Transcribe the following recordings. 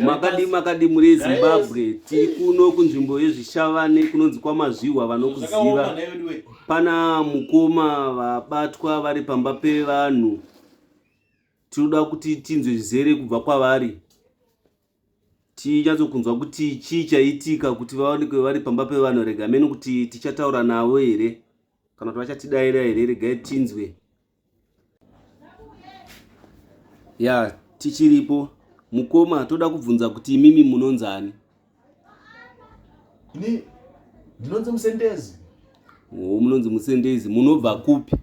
makadi makadi muri zimbabwe tiri kuno kunzvimbo yezvishavane kunonzi kwamazvihwa vanokuziva pana mukoma vabatwa vari pamba pevanhu tinoda kuti tinzwe zvizere kubva kwavari tinyatsokunzwa kuti chii chaitika kuti vaonekwe vari pamba pevanhu rega mene kuti tichataura navo here kana kuti vachatidaira here regai tinzwe ya tichiripo mukoma toda kubvunza kuti imimi munonzani ini ndinonzi musendezi o munonzi musendezi munobva kupi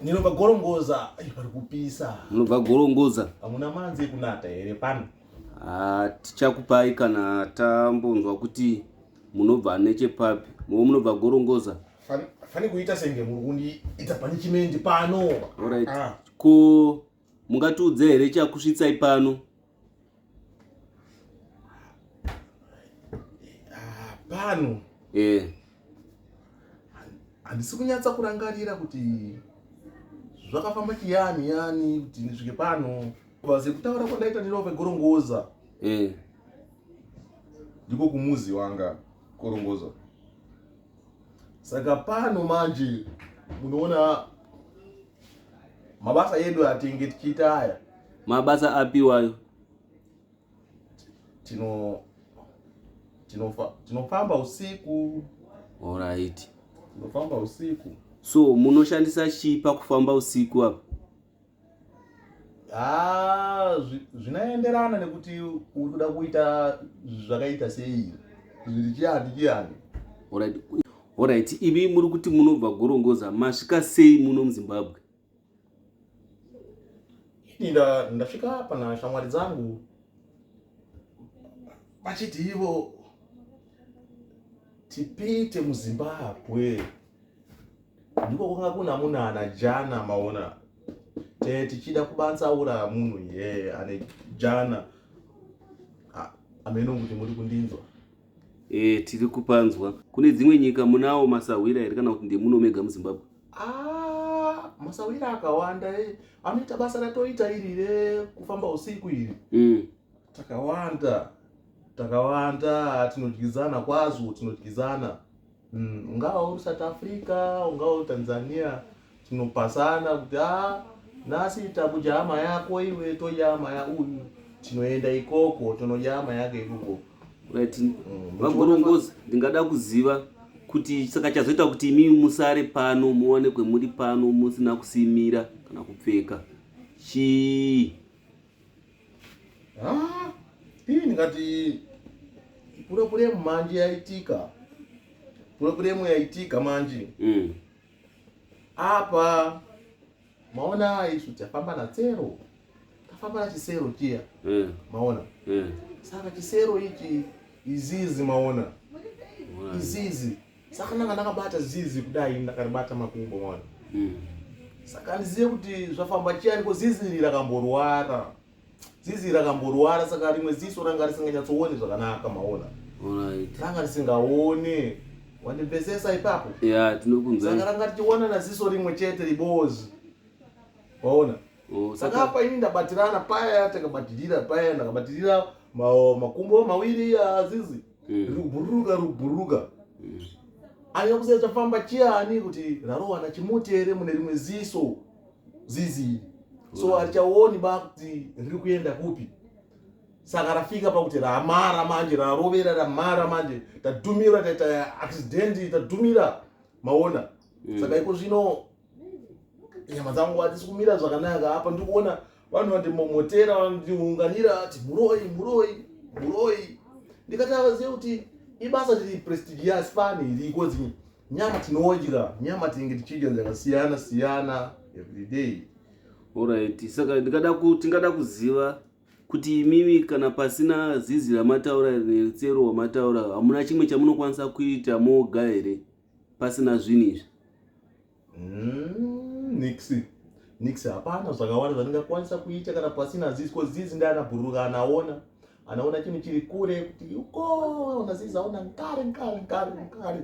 ndinobva gorongoza pari kupisa munobva gorongoza hamuna manzi kunata here pano ah, tichakupai kana tambonzwa kuti munobva nechepapi movo munobva gorongoza fani kuita senge muri kundiita panichimendi pano orit ah. ko mungatiudze here chakusvitsai pano ah, pano e eh. handisi kunyatsa kurangarira kuti zvakafamba chiyani yani kuti ndisvike pano vase kutaura kwandaita ndinove gorongoza e eh. ndiko kumuzi wanga korongozo saka pano manje munoona mabasa edu atenge tichiita aya mabasa apiwayo tino tinofa tinofamba usiku alright tinofamba usiku so munoshandisa chii pakufamba usiku apa Ah, zvinoenderana nekuti uri kuda kuita zvakaita sei zviri chiani chiani orit imi muri kuti munobva gorongoza masvika sei muno muzimbabwe ini ndasvika pana shamwari dzangu vachiti ivo tipite muzimbabwe ndiko kwanga kuna munana jana maona te tichida kubatsaura munhu ye ane jana ameno kuti muri kundinzwa e, tiri kupanzwa kune dzimwe nyika munawo masahwira here kana kuti ndemuno mega muzimbabwe ah, masahwira akawanda e. anoita basa ratoita iri rekufamba usiku iri mm. takawanda takawanda tinodyidzana kwazvo tinodyidzana Mm, ungava uri South Africa, ungava uri Tanzania, tinopasana kuti ah nhasi takudya hama yako iwe todya hama ya uyu tinoenda ikoko tonodya hama yake ikoko right mm, vagorongoza ndingada kuziva kuti saka chazoita kuti imi musare pano muwanikwe muri pano musina kusimira kana kupfeka chii Ah, ini ndingati purepuremu manje yaitika purepuremu yaitika manje mm. apa maona isu tafamba natsero tafamba nachisero chiya mm. maona mm. saka chisero ichi izizi maona izizi saka ndanga ndakabata zizi kudai ndakaribata makumbo mwana hmm. saka handizive kuti zvafamba chiyani ko zizi iri rakamborwara zizi rakamborwara saka rimwe ziso ranga risinganyatsoone zvakanaka maona ranga risingaone wandimvesesa ipapo saka ranga tichiwanana ziso rimwe chete ribozi waona Oh, saka apa ini ndabatirana paya takabatirira paya ndakabatirira makumbo mawiri azizi mm. rikubhururuka rikubhururuka mm. aya kusai chafamba chiyani kuti rarowana chimuti here mune rimwe ziso zizi so harichaoni ba kuti riri kuenda kupi saka rafika pakuti ramara manje rarovera ramara manje tadhumira taita accident tadhumira maona mm. saka iko zvino nyama dzangu hadzisi kumira zvakanaka apa ndikuona vanhu vandimomotera vandiunganira ati muroi muroi muroi ndikati avazive kuti ibasa tiri prestigious fani iriko dzinyi nyama tinodya nyama tinenge tichidya dzakasiyana siyana everyday orit saka ndikada tingada kuziva kuti imimi kana pasina zizi ramataura netsero wamataura hamuna chimwe chamunokwanisa kuita moga here pasina zvinhu izvi mm, nixi nixi hapana zvakawanda zvandingakwanisa kuita kana pasina zizi ko zizi ndi anabhururuka anaona anaona chinhu chiri kure kuti uko ona zizi aona nkare nkare nkare nkare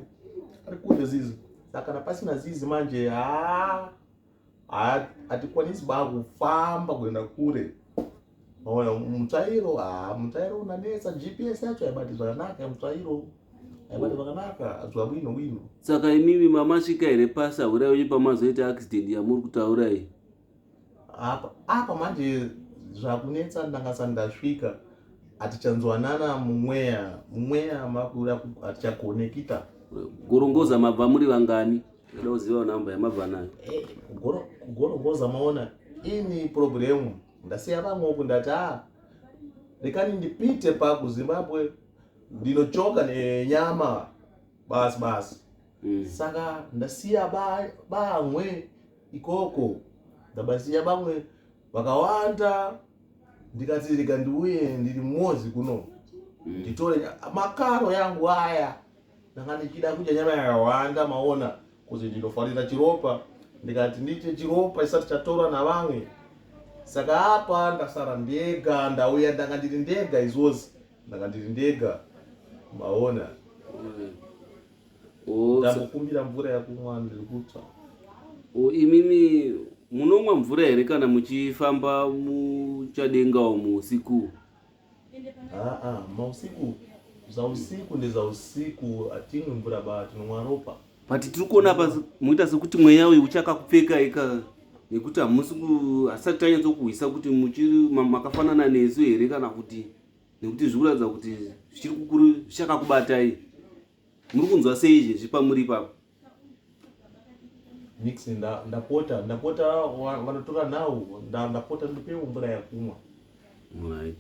ari kure zizi saka kana pasina zizi manje haa hatikwanisi ba kufamba kuenda kure maona mutsvairo ha mutsvairo unanetsa gps yacho haibati zvakanaka mutsvairo haibati zvakanaka azwa wino wino saka imimi mamasvika here pasi ahurai uye pamazoita accident yamuri kutaura iyi apa apa manje zvakunetsa ndanga sani ndasvika hatichanzwanana mumweya mumweya makuda hatichakonekita gorongoza mabva muri vangani Ndoda kuziva number yamabva nayo. Eh, kugoro kugoro goza maona ini problem ndasiya vamwe uku ndati ah rekani ndipite pa kuZimbabwe ndinochoka nenyama basi basi. Mm. Saka ndasiya ba bamwe ikoko ndabasiya bamwe vakawanda ndikati reka ndiuye ndiri mozi kuno Mm. nditore nya- makaro yangu aya ndanga ndichida kudya nyama yakawanda maona kuti ndinofarira chiropa ndikati ndiite chiropa chisati chatorwa navamwe saka apa ndasara ndega ndauya ndanga ndiri ndega izvozi ndanga ndiri ndega maona oh, ndakukumbira mvura yakumwa ndiri kutsva oh, imimi munomwa mvura here kana muchifamba muchadenga umu usiku Haa mausiku zausiku ndezausiku hatimwi mvura ba tinonwa ropa but tiri kuona apa moita sekuti mweya uyu uchakakupfeka ika nekuti hamusi hasati tanyatsokuhwisa kuti muchiri makafanana nesu here kana kuti nekuti zviri kuratidza kuti zvichiri kukuru zvichakakubatai muri kunzwa sei izvezvi pamuri ipapo nix ndapota ndapota vanotora nhau ndapota ndipewo mvura yakumwa